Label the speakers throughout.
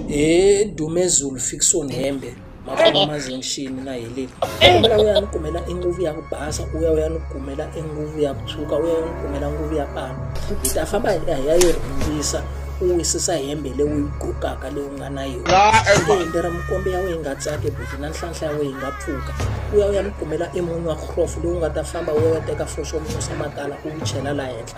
Speaker 1: he dumezulu fikison hembe makhoma mazenxini na heleni kombela u ya ni kumela enguvu ya ku basa u ya u ya ni kumela enguvu ya ku tshuka u ya u ya ni kumela nguvu ya pano hi ta famba hi ya yi rhundzisa u wisisa hembe leyi u yi gokaka leyi u nga na yona hembe ra mukombe ya wena yi nga tsaki buti na nhlanhla ya wena yi nga pfuka u ya u ya ni kumela emunyu wa hlofu lowu nga ta famba u ya u ya teka foxo munyu swa makala u wu chela laha henhla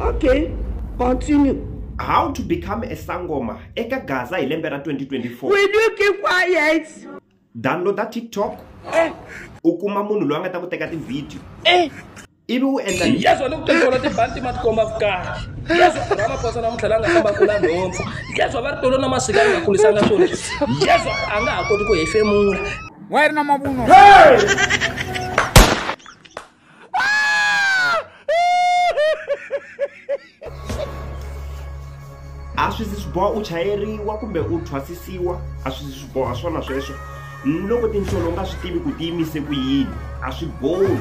Speaker 2: Okay, continue. How to
Speaker 3: become a sangoma eka Gaza hi lembe ra 2024. Will you keep
Speaker 2: quiet? Downloada
Speaker 3: TikTok. Eh. U kuma munhu loyi a nga ta ku teka ti-video. Eh. ivi u endla yeso ni ku tintolo
Speaker 1: tibanti ma tikomba vukari yeso ramaphosa namuntlha la nga famba kula nhompfu yeso va ri tolo na masika a nga kulisanga swona yeso a nga ha koti ku hefemula wa yi ri na
Speaker 4: mavunwa
Speaker 3: a swi zi swi boha u chayeriwa kumbe u thwasisiwa a swi zi swi boha swona sweswo loko tinhlolo u nga swi tivi ku tiyimise ku yini a swi bohi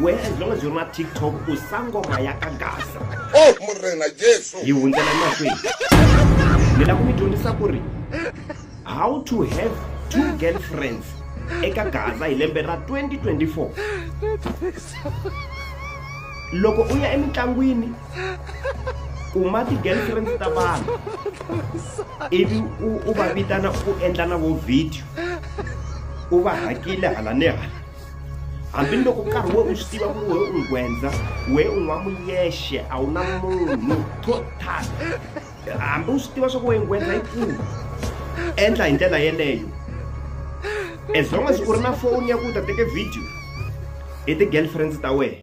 Speaker 3: wena as long as u ri na tiktok u sangoma ya ka gasa oh, murena
Speaker 4: jesu hi hundzela emahlweni
Speaker 3: ni lava ku mi dyondzisa ku ri how to have two girlfriends eka gaza hi lembe ra 2024 loko u ya emitlangwini kuma ti-girlfriends ta vanhu ivi u va vitana u endla na vo video u va hakile hala ni hala hambi loko nkarhi we u swi tiva ku we u nghwendza we u nwa muyexe a wu na munhu to tala hambi u swi tiva swa ku wena wena yi pfuna endla hi ndlela yeleyo as long as u ri na foni ya ku ta teke video hi ti-girlfriends ta wena